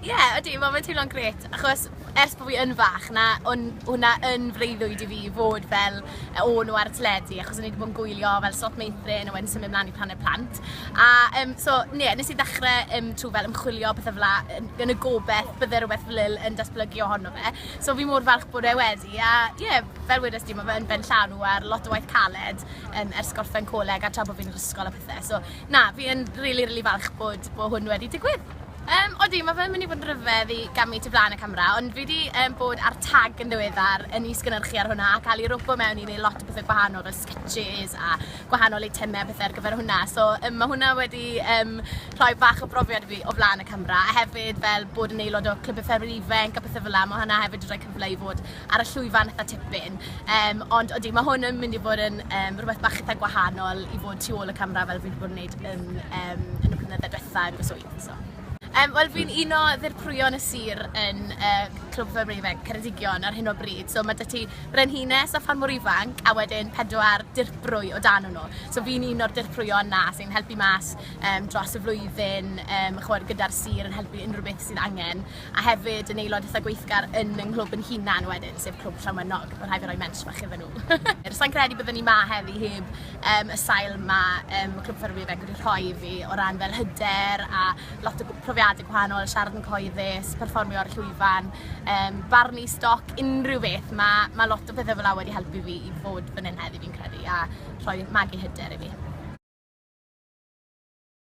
Ie, yeah, ydy, mae fe'n teimlo'n gret, achos ers bod fi yn fach, na, o'n hwnna yn freuddwyd i fi fod fel e, o nhw ar y teledu, achos o'n i wedi bod yn gwylio fel slot meithrin a wedyn symud mlaen i planed plant. A um, so, ne, nes i ddechrau um, trwy fel ymchwilio beth fela, yn, yn y gobeith bydde rhywbeth fel il yn datblygu ohono fe. So fi mor falch bod e wedi, a ie, yeah, fel wedys di, mae fe'n ben llanw ar lot o waith caled um, ers gorffen coleg a tra bod fi'n yr ysgol a pethau. So Na, fi yn rili, rili falch bod, bod hwn wedi digwydd. Um, odi, mae fe'n mynd i fod yn rhyfedd i gamu tu flaen y camera, ond fi wedi um, bod ar tag yn ddiweddar yn is-gynnyrchu ar hwnna a cael ei robo mewn i wneud lot o bethau gwahanol fel sketches a gwahanol eitemau bethau ar gyfer hwnna. So um, mae hwnna wedi um, rhoi bach o brofiad fi o flaen y camera a hefyd fel bod yn aelod o Clwb y Ffermwyr Ifanc a pethau fel yna, mae hwnna hefyd wedi rhoi cyfle i fod ar y llwyfan eitha tipyn. Um, ond ydy, mae hwn yn mynd i fod yn um, rhywbeth bach eitha gwahanol i fod tu ôl y camera fel fi wedi bod yn gwneud yn, um, yn y blynyddoedd diwetha yn fy swydd. So. Um, Wel, fi'n un o ddirprwyon y sir yn uh, Clwb Fyr Ifanc Ceredigion ar hyn o bryd. So mae dy ti brenhines a ffarmwr ifanc a wedyn pedwar dirprwy o dan nhw. So fi'n un o'r dirprwyon na sy'n helpu mas um, dros y flwyddyn, um, chwer gyda'r sir yn helpu unrhyw beth sydd angen. a hefyd yn aelod eitha gweithgar yn yng nghlwb yn hunan wedyn, sef Clwb Llawmynnog, mae'n rhaid fi roi mensh bach iddyn nhw. Sa'n credu byddwn ni ma heddi heb um, y sail ma um, Clwb Ffermwyr Bangor wedi rhoi i fi o ran fel hyder a lot o profiadau gwahanol, siarad yn coeddus, perfformio ar y llwyfan, um, barnu stoc, unrhyw beth. Mae ma lot o bethau fel la wedi helpu fi i fod fan hyn heddi fi'n credu a rhoi magu hyder i fi.